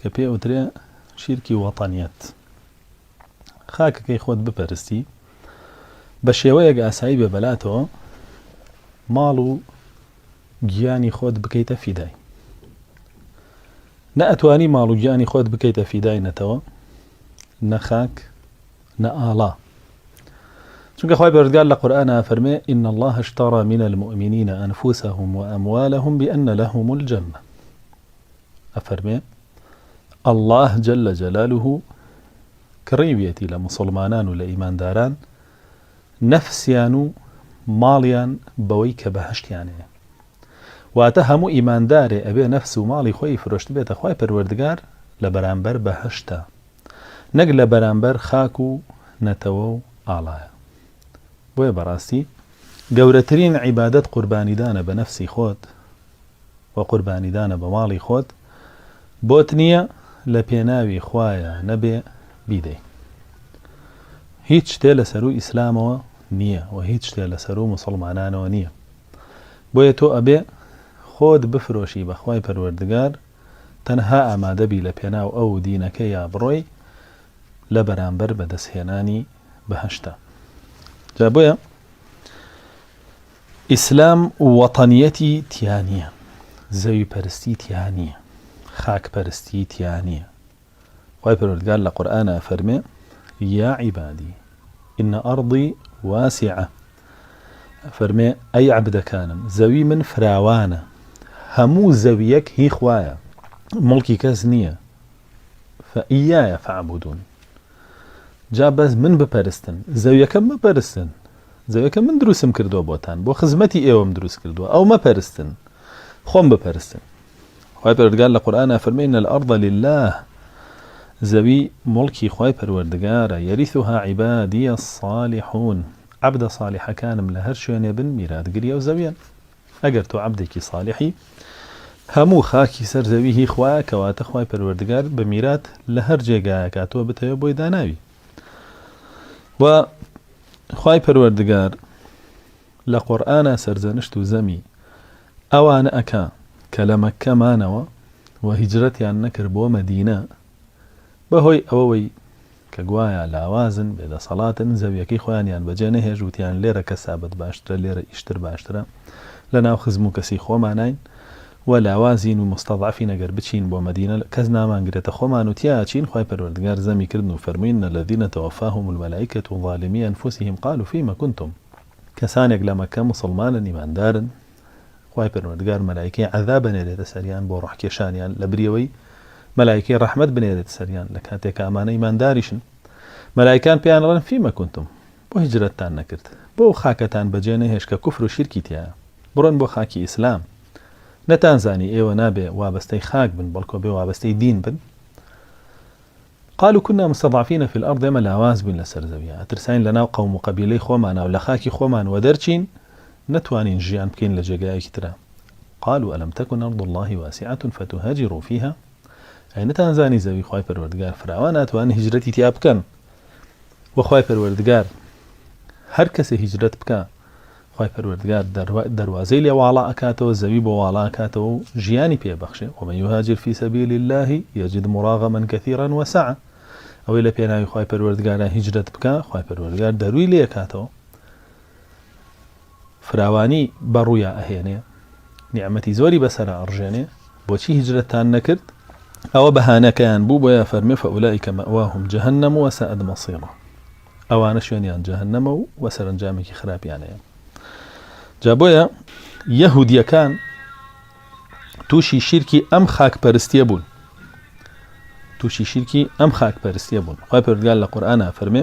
کە پێ ئەوترێ شیرکی وەتەنیەت خاکەکەی خۆت بپەرستی بە شێوەیەک ئاسایی بێ بەلاتەوە ماڵ و گیانی خۆت بکەیتە فیدای نە ئەتوانی ماڵ و گیانی خۆت بکەیتە فیدای نەتەوە نە خاک نە ئاڵا چونکە خۆی بەردگار لە قورآە فەرمێ إن الله اشترى من المؤمنين أنفسهم وأموالهم بأن لهم الجنة ئەفەرمێ، اللە جل جلالە کڕیویەتی لە موسڵمانان و لە ئیمانداران نەفسیان و ماڵیان بەوەی کە بەهەشتیان هەیە. واتە هەموو ئیماندارێ ئەبێ نەفس و ماڵی خۆی فرۆشتبێتە خوای پەروەردگار لە بەرامبەر بەهەشتە، نەک لە بەرامبەر خاک و نەتەوە و ئاڵایە. بۆیە بەڕاستی گەورەترین عیبادەت قوربانیدانە بە نەفسی خۆت و قوربانیدانە بە ماڵی خۆت بۆت نییە لە پێناوی خوایە نەبێ بیدەی هیچ شتێ لە سەروو ئیسلامەوە نییە و هیچ شتێ لە سەروو موسڵمانانەوە نییە بۆیە تۆ ئەبێ خۆت بفرۆشی بەخوای پەروەردگار تەنها ئامادەبی لە پێناو ئەو دینەکە یا بڕۆی لە بەرامبەر بەدەستهێنانی بەهەشتا جا بۆیە ئیسلام وەتەنیەتی تیا نیە، زەوی پەرستی تیا نیە، خاک پەرستی تیا نیە، خوای پەروەردگار لە قورئانا ئەفەرمێ، یا عیبادی ان ارضی واسعە، ئەفەرمێ ئەی عەبدەکانم زەوی من فراوانە، هەموو زەویەک هی خوایە موڵکی کەس نیە، فاییایە فاعبودون جا بەس من بپەرستن، زەویەکەم مەپەرستن، جەوێکە من دروستم کردووە بۆتان، بۆ خزمەتی ئێوەم دروست کردووە، ئەو مەپەرستن، خۆم بپەرستن. خوای پەروەردگار لە قورئانا فەرمێ، ان الارض للە، زەوی موڵکی خوای پەروەردگارە، یریثها عبادی الصالحون، عەبدە صالیحەکانم لە هەر شوێنێ بن میراتگری ئەو زەویەن. ئەگەر تۆ عەبدێکی صالیحی، هەموو خاکی سەر زەوی هی خوایە، کەواتە خوای پەروەردگار بە میرات لە هەر جێگایەکا تۆ بتەوێ بۆی داناوی. و خوای پەروەردگار لە قورئانا سەرزەنشت و زەمی ئەوانە ئەکا کە لە مەککە مانەوە و هیجرەتیان نەکرد بۆ مەدینە بەهۆی ئەوەوەی کە گوایە لاوازن بێدەسەڵاتن زەویەکەی خۆیانیان بەجێ نەهێشت وتیان لێرە کەسابەت باشترە لێرە ئیشتر باشترە لەناو خزم و کەسی خۆماناین و لاوازین و مستضعفین ئەگەر بچین بۆ مەدینە کەس نامان گرێتە خۆمان و تیا ئەچین خوای پەروەردگار زەمی کردن و فەرمووی ان الذین توفاهم الملائکە ظالمی انفسهم قالوا فیما کنتم کەسانێک لە مەککە موسڵمانن ئیماندارن خوای پەروەردگار مەلایکەی عەذاب ئەنێرێتە سەریان بۆ ڕۆح کێشانیان لەبری ئەوەی مەلایکەی ڕەحمەت بنێرێتە سەریان لە کاتێکا ئەمانە ئیمانداریشن مەلایکان پێیان ئەڵێن فیما کنتم بۆ هیجرەتتان نەکرد بۆ ئەو خاکەتان بەجێ نەهێشت کە کوفر و شیرکی تیایە بڕۆن بۆ خاکی ئیسلام نەتانزانی ئێوە نابێ وابەستەی خاک بن بەڵکۆ بێ وابەستەی دین بن قالوا كنا مستضعفين في الارض ئێمە لاواز بووین لەسەر زەویە ئەترساین لەناو قەوم و قەبیلەی خۆمانە و لە خاکی خۆمان وەدەرچین نەتوانین ژیان بکەین لە جێگایەکی ترا قالوا الم تكن ارض الله واسعه فتهاجروا فيها ئەی نەتانزانی زەوی خوای پەروەردگار فراوانە ئەتوانن هیجرەتی تیا بکەن وە خوای پەروەردگار هەر کەسێ هیجرەت بکا خوای پەروەردگار دەروازەی لێ واڵا ئەکاتەوە زەوی بۆ واڵا ئەکاتەوە و ژیانی پێ بەخشێ ومن یهاجر فی سبیل الله یجد مراغما کثیرا وسعا ئەوەی لە پێناوی خوای پەروەردگارا هیجرەت بکا خوای پەروەردگار دەروی لێ ئەکاتەوە فراوانی بە ڕوویا ئەهێنێ نیعمەتی زۆری بەسەرا ئەڕژێنێ بۆچی هیجرەتتان نەکرد ئەوە بەهانەکەیان بوو بۆیە فەرمێ فەئولائیک مەئواهم جەهەنەم وەسائەد مەصیرا ئەوانە شوێنیان جەهەنەمە و وە سەرەنجامێکی خراپیان هەیە جا بۆیە یەهودیەکان تووشی شیرکی ئەم خاک پەرستیە بوون تووشی شیرکی ئەم خاک پەرستیە بوون خی پرگال لە قورآە فەرمێ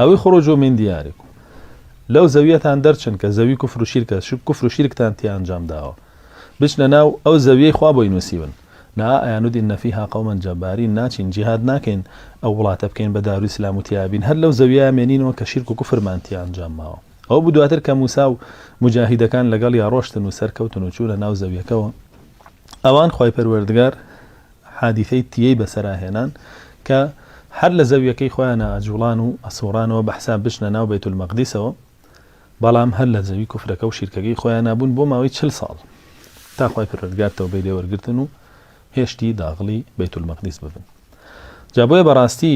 او اخرجوا من دیارکم، لەو زەوییەتان دەرچن کە زەوی کوفر و شیرکە، چونکە کوفر و شیرکتان تیا ئەنجام داوە. بچنە ناو ئەو زەوییەی خوا بۆی نووسیون. نا ئایا ندین فیها قوما جبارین، ناچین جیهاد ناکەین ئەو وڵاتە بکەین بە دار و ئیسلام و تیا بین، هەر لەو زەوییەیا مێنینەوە کە شیرک و کوفرمان تیا ئەنجام ماوە. ئەوە بوو دواتر کە موسی و موجاهیدەکان لەگەڵیا ڕۆشتن و سەرکەوتن و چوونە ناو زەوییەکەوە، ئەوان خوای پەروەردگار، حادیسەی تیەی بەسەرا هێنان کە هەر لە زەویەکەی خۆیانا ئەجوڵان و ئەسوڕانەوە بە حساب بچنە ناو بەیت المەقدیسەوە بەڵام هەر لە زەوی کوفرەکە و شیرکەکەی خۆیانا بوون بۆ ماوەی چل ساڵ تا خوای پەروەردگار تەوبەی لێ وەرگرتن و هێشتی داغڵی بەیت المەقدیس ببن جا بۆیە بەڕاستی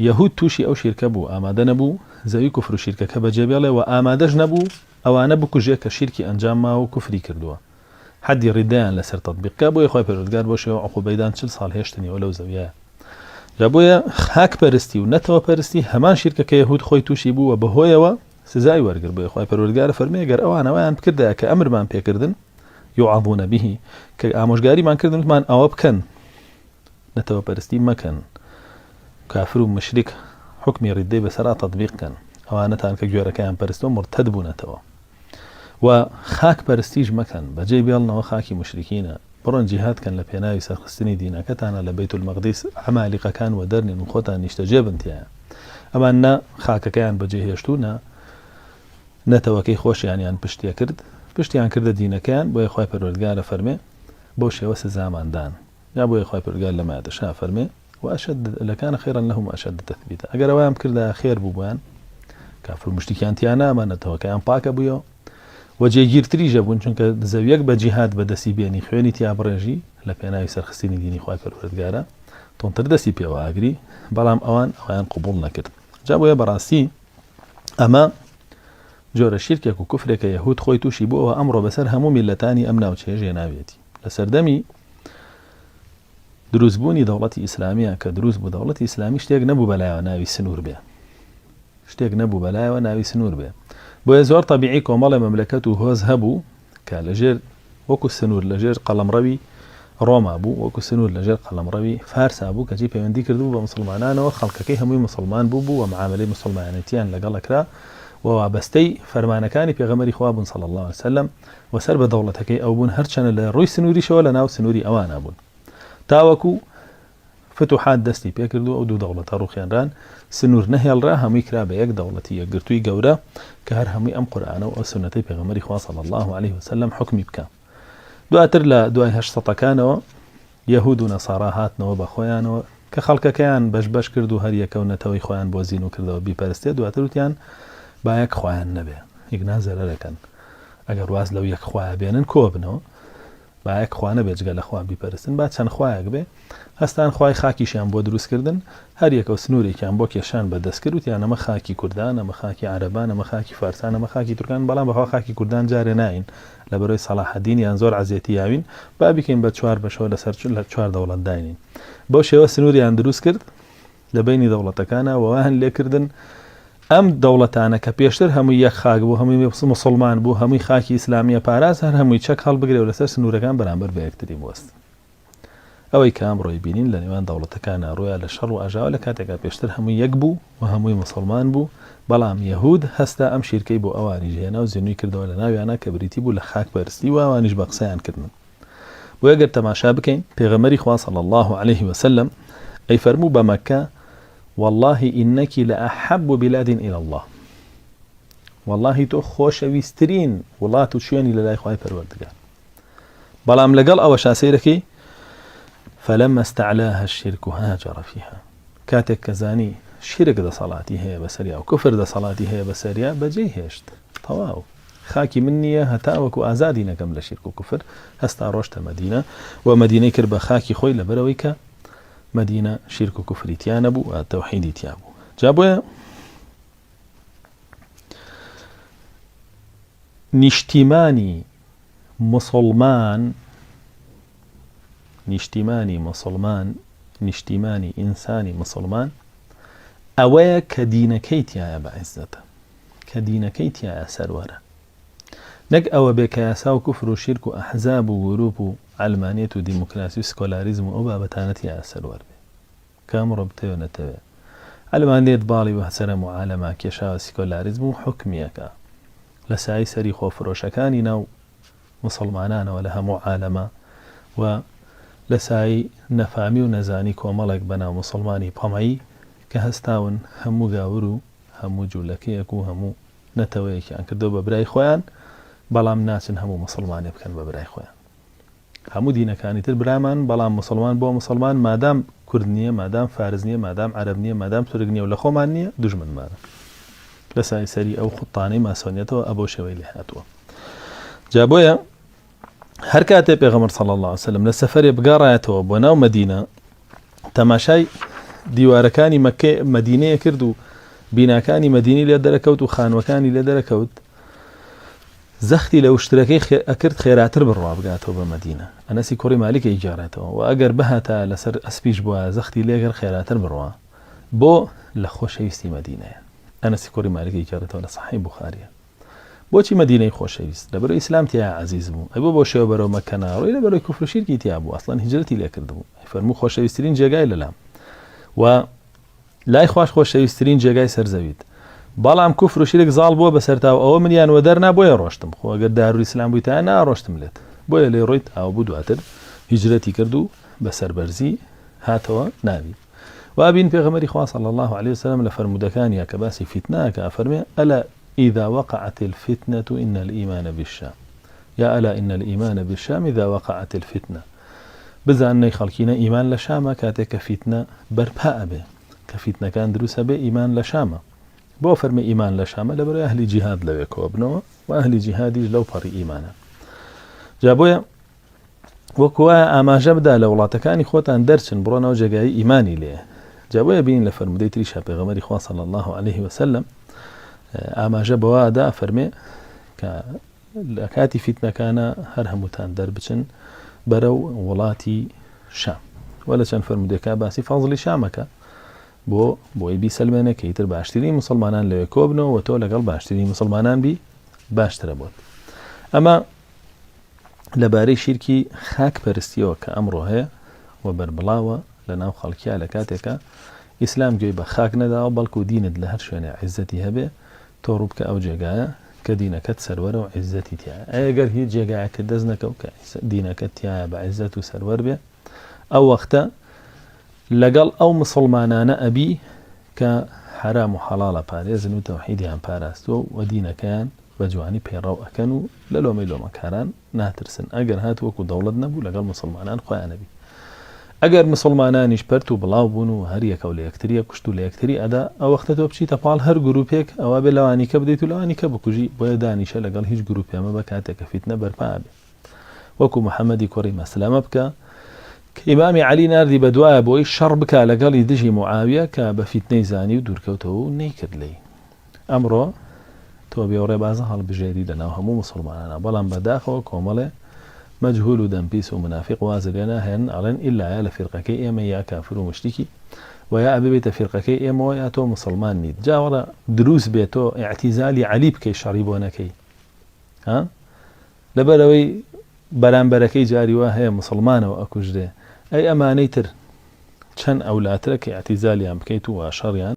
یەهود تووشی ئەو شیرکە بوو ئامادە نەبوو زەوی کوفر و شیرکەکە بەجێ بێڵێ و ئامادەش نەبوو ئەوانە بکوژێ کە شیرکی ئەنجام ماوە و کوفری کردووە حەدی ڕیدەیان لەسەر تەتبیق کا بۆیە خوای پەروەردگار بەو شێوە عقوبەی دان چل ساڵ هێشتنیەوە لەو زەویەیا جا بۆیە خاک پەرستی و نەتەوە پەرستی هەمان شیرکە کە یەهود خۆی تووشی بوو و بەهۆیەوە سزای وەرگر بۆیە خوای پەروەردگار فەرمووی گەر ئەوان ئەوەیان بکردایە کە ئەمرمان پێکردن یوعەظون به کە ئامۆژگاریمان کردن وتمان ئەوە بکەن نەتەوە پەرستی مەکەن کافر و مشرک حکمی ڕیدەی بەسەرا تطبیق کەن ئەوانەتان کە گوێرەکەیان پەرستەوە مرتد بوونەتەوە وە خاک پەرستیش مەکەن بەجێی بێڵنەوە خاکی موشریکینە بڕۆن جیهاد کەن لەپێناوی سەرخستنی دینەکەتانا لە بەیت المقدیس عەمالیقەکان وەدەرنێن وخۆتان نیشتەجێ بن تیایا ئەمان نە خاکەکەیان بەجێ هێشتو نە نەتەوەکەی خۆشیانیان پشتێ کرد پشتیان کردە دینەکەیان بۆیە خوای پەروەردگارە فەرمێ بەو شێوە سزامان دان جا بۆیە خوای پەروەردگار لەمایەتەشا فەرمێ. واشد لکان خیرا لهم واشد تثبیتا ئەگەر ئەوەیان بکردایە خێر بوو بۆیان کافر و مشتیکیان تیا نامانەتەوە کەیان پاکە بوویەوە و جێگیرتریژە بوون چونکە زەویەک بە جیهاد بەدەستی بێنی خوێنی تیا بڕێژی لە پێناوی سەرخستنی دینی خخوای پەروەردگارە تۆنتر دەستی پێوە ئاگری بەڵام ئەوان ئەویان قوبول نەکرد جا بۆیە بەڕاستی ئەمە جۆرە شیرکێک و کوفرێکە یهود خۆی تووشی بووەوە ئەمڕۆ بەسەر هەموو میلەتانی ئەم ناوچەیە ژێناوێتی لە سەردەمی دروست بوونی دەوڵەتی ئیسلامیان کە دروست بوو دەوڵەتی ئیسلامی شتێک نەبوو بەلایەوە ناوی سنوور بێ شتێک نەبوو بەلایەوە ناوی سنوور بێ بۆیە زۆر تەبیعی کۆمەڵێ مەملەکەت و هۆز هەبوو کە لەژێر وەکو سنوور لەژێر قەڵەمڕەوی ڕۆما بوو وەکو سنوور لەژێر قەڵەمڕەوی فارسا بوو کەچی پەیوەندی کردبوو بە مسلمانانەوە خەڵکەکەی هەمووی مسلمان بوو بوو و معاملەی مسلمانەتیان لەگەڵەکرا و وابەستەی فەرمانەکانی پێغەمەری خوا بوون صلی الله عليه وسلم و سەر بە دەوڵەتەکەی ئەو بوون، هەرچەنە لە ڕووی سنووریشەوە لە ناو سنووری ئەوانا بوون. تاوەکوو فتوحات دەستی پێ کرد و ئەو دوو دەوڵەتە ڕووخێنران، سنوور نەهێڵرا، هەمووی کرا بە یەک دەوڵەتی یەکگرتووی گەورە کە هەر هەمووی ئەم قورئانە و ئەو سوننەتەی پێغەمبەری خوا صلی اللە علیە وسلم حوکمی بکا. دواتر لە دوای هەشت سەتەکانەوە، یەهود و نەسارا هاتنەوە بە خۆیانەوە کە خەڵکەکەیان بەش بەش کرد و هەر یەکەو نەتەوەی خۆیان بۆ زینو کردەوە بیپەرستێ دواتر وتیان با یەک خوایان نەبێ ئیگنا زەرەرەکەن ئەگەر واز لەو یەک خوایە بێنن کۆبنەوە با یەک خوا نەبێ جگە لە خوا بیپەرستن با چەند خوایەک بێ هەستان خوای خاکیشیان بۆ دروست کردن هەر یەکەو سنوورێکیان بۆ کێشان بە دەست کرد وتیان ئەمە خاکی کوردان ئەمە خاکی عەرەبان ئەمە خاکی فارسان ئەمە خاکی تورکان بەڵام بەخوا خاکی کوردان جارێ ناین لە بەرەی سەڵاحەدین یان زۆر عەزێتی یاوین، با بیکەین بە چوار بەشەوە لەسەر چوار دەوڵەت داینین. بەو شێوە سنووریان دروست کرد لە بەینی دەوڵەتەکانا و وایان لێ کردن ئەم دەوڵەتانە کە پێشتر هەمووی یەک خاک بوو، هەمووی موسڵمان بوو، هەمووی خاکی ئیسلامییە پاراست، هەر هەمووی چەک هەڵبگرێ و لەسەر سنوورەکان بەرانبەر بە یەکتری بوەستن. ئەوەی کە ئەمڕۆی بینین لە نێوان دەوڵەتەکانا ڕوویان لە شەڕ و ئاژاوە لە کاتێکا پێشتر هەمووی یەک بوو و هەمووی موسڵمان بوو بەڵام یەهوود هەستا ئەم شیرکەی بۆ ئەوانیش هێنا و زینووی کردەوە لە ناویانا کە بریتی بوو لە خاک پەرستی و ئەوانیش بە قسەیان کردن بۆیە گەر تەماشا بکەین پێغەمبەری خوا صلی الله علیه و سلم ئەی فەرموو بە مەککە واللهی انکی لاحب بلاد الی الله واللهی تۆ خۆشەویسترین وڵات و شوێنی لە لای خوای پەروەردگار بەڵام لەگەڵ ئەوەشا سەیرەکەی فلما استعلاها الشرك هاجر فيها کاتێک کە زانی شیرک دەسەڵاتی هەیە بەسەریا و کفر دەسەڵاتی هەیە بەسەریا بەجێ هێشت تەواو خاکی من نییە هەتا وەکو ئازادی نەکەم لە شیرک و کفر هەستا ڕۆشتە مدینە و مدینەی کرد بە خاکی خۆی لەبەرەوەی کە مدینە شیرک و کفریتیانە بوو تەوحیدی تیا بوو جا بۆیە نیشتیمانی موسڵمان نیشتیمانی موسڵمان نیشتیمانی ئینسانی موسڵمان ئەوەیە کە دینەکەی تایە بە عیزەتە کە دینەکەی تایە سەروەرە نەک ئەوە بێ کە یاسا و کوفر و شیرک و ئەحزاب و گروپ و ئەلمانێت و دیموکراسی و سکۆلاریزم و ئەو بابەتانەتی یاسەروەر بێ کە ئەمڕۆ بتەوێ نەتەوێ عەلمان لێت باڵی مەهجەرە موعالەمە کێشاوە سیکۆلاریزم و حوکمیەکە لە سایەی سەری خۆفرۆشەکانی ناو موسڵمانانەوە لە هەموو عالەما و لە سایەی نەفامی و نەزانی کۆمەڵێک بە ناو موسڵمانی تەمەی کە هەستاون هەموو گاور و هەموو جولەکەیەک و هەموو نەتەوەیەکیان کردوە بە برای خۆیان بەڵام ناچن هەموو موسڵمانێ بکەن بە برای خۆیان هەموو دینەکانی تر برامان بەڵام موسڵمان بۆ موسڵمان مادام کورد نیە مادام فارس نیە مادام عەرەب نیە مادام تورک نیە و لە خۆمان نیە دوژمنمانە لە سای سەری ئەو خوتانەی ماسۆنیەتەوە ئەبەو شێوەی لێ هاتووە جا بۆیە هەر کاتێ پێغەمبەر صلی الله علیه وسلم لە سەفەرێ بگەڕایەتەوە بۆ ناو مدینە تەماشای دیوارەکانی مەکە مدینەیە کرد و بیناکانی مدینی لێ دەرەکەوت و خانوەکانی لێ دەرەکەوت زەختی لە وشترەکەی خێ ئەکرد خێراتر بڕوا بگاتەوە بە مەدینە ئەنەسی کوڕی مالیک ئەیگێڕێتەوە وە ئەگەر بهاتایە لەسەر ئەسپیش بوایە زەختی لێکرد خێراتر بڕوا بۆ لە خۆشەویستی مەدینەیە ئەنەسی کوڕی مالیک ئەیگێڕێتەوە لە سەحیح بوخاریە بۆچی مەدینەی خۆشەویست لەبەرو ئیسلام تیایا عەزیز بوو ئەی بۆ بەو شێوە بەرەو مەککە ناڕۆی لەبەرەوەی کوفرو شیرکی تیابوو ئەسڵەن هیجرەتی لێکردبوو ئەیفەرموو خۆشەویسترین جێگای لەلام وە لای خواش خۆشەویسترین جێگای سەر زەویت بەڵام کوفر و شرک زاڵ بووە بەسەرتاو ئەوە منیان وەدەرنا بۆیە ڕۆشتم خۆ گەر دارول اسلام بویتایە ناڕۆشتم لێت بۆیە لێ ڕۆیت ئاوە بوو دواتر هیجرەتی کرد و بە سەربەرزی هاتەوە ناوی وابین پێغەمەری خوا صلی الله علیه وسلم لە فەرمودەکانیا کە باسی فیتنە کە ئەفەرمێ ئەلا اذا وقعت الفتنە ان الایمان بالشام یا الا ان الایمان بالشام اذا وقعت الفتنە بزانن ئەی خەڵکینە ئیمان لە شامە کاتێک کە فیتنە بەرپا ئەبێ کە فیتنەکان دروست ئەبێ ئیمان لە شامە بۆ فەرمی ئیمان لە شامە لە بەرەی ئەهلی جیهاد لەوێ کۆبنەوە و ئەهلی جیهادیش لەو پەڕی ئیمانە جا بۆیە وەکو وایە ئاماژە بدا لە وڵاتەکانی خۆتان دەرچن بڕۆن ئەو جێگایی ئیمانی لێیە جا بۆیە بین لە فەرمودەی تریشا پێغەمەری خوا صلی الله عليه وسلم ئاماژە بەوادا فەرمێ کە لە کاتی فیتنەکانە هەر هەمووتان دەربچن بەرە و وڵاتی شام وە لە چەند فەرمودێکا باسی فازلی شامەکە بۆ بۆی بیسەلمێنە کە ئیتر باشتری مسلمانان لەوێ کۆبنەوە تۆ لەگەڵ باشتری مسلمانان بی باشترە بۆت ئەمە لەبارەی شیرکی خاک پەرستیەوە کە ئەمڕۆ هەیە و بەربڵاوە لەناو خەڵکیا لە کاتێکا ئیسلام گوێی بە خاک نەداوە بەڵکو دینت لە هەر شوێنێ عیزەتی هەبێ تۆ ڕووبکە ئەو جێگایە کە دینەکەت سەروەرە و عیزەتی تیایە ئەی گەر هیچ جێگایەکە دەست نەکەو کە دینەکەت تیایە بە عیزەت و سەروەر بێ ئەو وەختە لەگەڵ ئەو مسلمانانە ئەبی کە حرام و حەڵاڵە پارێزن و تەوحیدیان پاراستووە و دینەکەیان بە جوانی پەیڕەو ئەکەن و لە لۆمەی لۆمەکاران ناترسن ئەگەر هات وەکو دەوڵەت نەبوو لەگەڵ موسڵمانان خۆیان ئەبی ئەگەر موسڵمانانیش پەرت و بڵاو بوون و هەر یەکەو لە یەکتری ئەکوشت و لە یەکتری ئەدا ئەوەختە تۆ بچیتە پاڵ هەر گروپێک ئەوابێ لەوانیکە بدەیت و لەوانیکە بکوژی بۆیە دانیشە لەگەڵ هیچ گروپێ مەبە کاتێ کە فیتنە بەرپا ئەبێ وەکو محمدی کوڕی مەسلەمە بکە کە ئیمامی عەلی ناردی بە دوایە بۆی شەڕ بکا لەگەڵی دژی معاویە کە بە فیتنەی زانی و دوورکەوتەوە و نەیکرد لێی ئەمڕۆ تۆ بێ و ڕێبازە هەڵبژێری لە ناو هەموو موسوڵمانانا بەڵام بە داخەوە کۆمەڵێ مەجهول و دەم پیس و مونافیق وازی لێ ناهێنن ئەڵێن ئیلا یا لە فیرقەکەی ئێمەی یا کافر و موشریکی و یا ئەببیتە فیرقەکەی ئێمەوە یا تۆ موسوڵمان نیت جا وەڵا دروست بێ تۆ ئیعتیزالی عەلی بکەی شەڕی بۆ نەکەی ها لەبەر ئەوەی بەرامبەرەکەی جاری وا هەیە موسوڵمانەوە ئەکوژرێ ئەی ئەمانەی تر چەند ئەولاترە کە ئیعتیزالیان بکەیت و وا شەڕیان